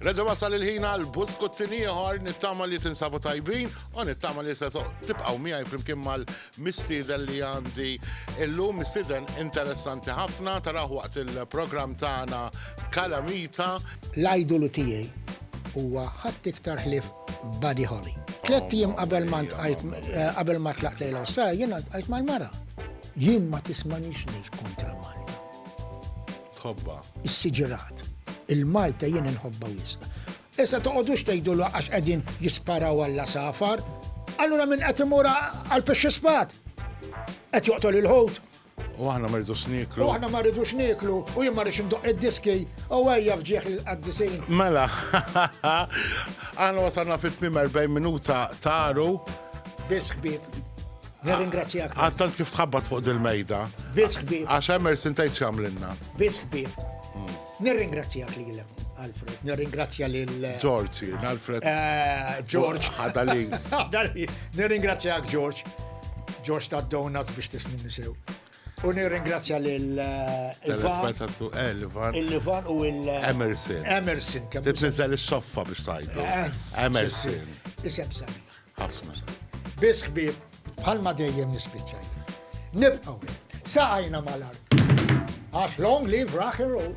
Reġa wasal il-ħina l-buskuttin ieħor nittama li tinsabu tajbin u nittama li se tibqgħu miegħi flimkien mal-mistieden li għandi illum mistieden interessanti ħafna taraw waqt il-programm tagħna Kalamita. L-ajdolu tiegħi huwa ħadd iktar ħlief Buddy Holly. Tlett jiem qabel ma ntqajt qabel ma tlaqt lejn l-Awstralja jiena ntqajt mal-mara. Jien ma tismanix ngħid kontra Malta. Tħobba. Is-siġirat. Il-Malta jien inħobba wisq. Issa toqgħodux tgħidu għax qegħdin jisparaw għal safar. Allura minn qed imur għal pixxi spat. Qed joqtol il-ħut. U aħna ma rridux nieklu. U aħna ma rridux nieklu, u jien ma rridx indoq id-diski, u ejja fġieħ il-qaddisin. Mela, aħna wasalna fit tmim 40 minuta taru. Biss ħbib. Nirringrazzjak. Għattant kif tħabbat fuq dil-mejda. Biss ħbib. Għax emmer sintajt xamlinna. Biss ħbib. Nirringrazzjak lilek, Alfred. Nirringrazzja lil. George, jien, Alfred. Eh, George. Ħada li. Nirringrazzjak, George. George ta' donuts biex tismin nisew. U nirringrazzja lil. Eh, Telespetatu Elvan. Eh, Il-Livan u il. Emerson. Emerson. Titniżel is-soffa biex tajdu. Emerson. Isem sabiħ. Ħafna. Biss ħbieb bħalma dejjem nispiċċa jien. Nibqgħu hekk. Saqajna mal-art. Għax long live rock and roll.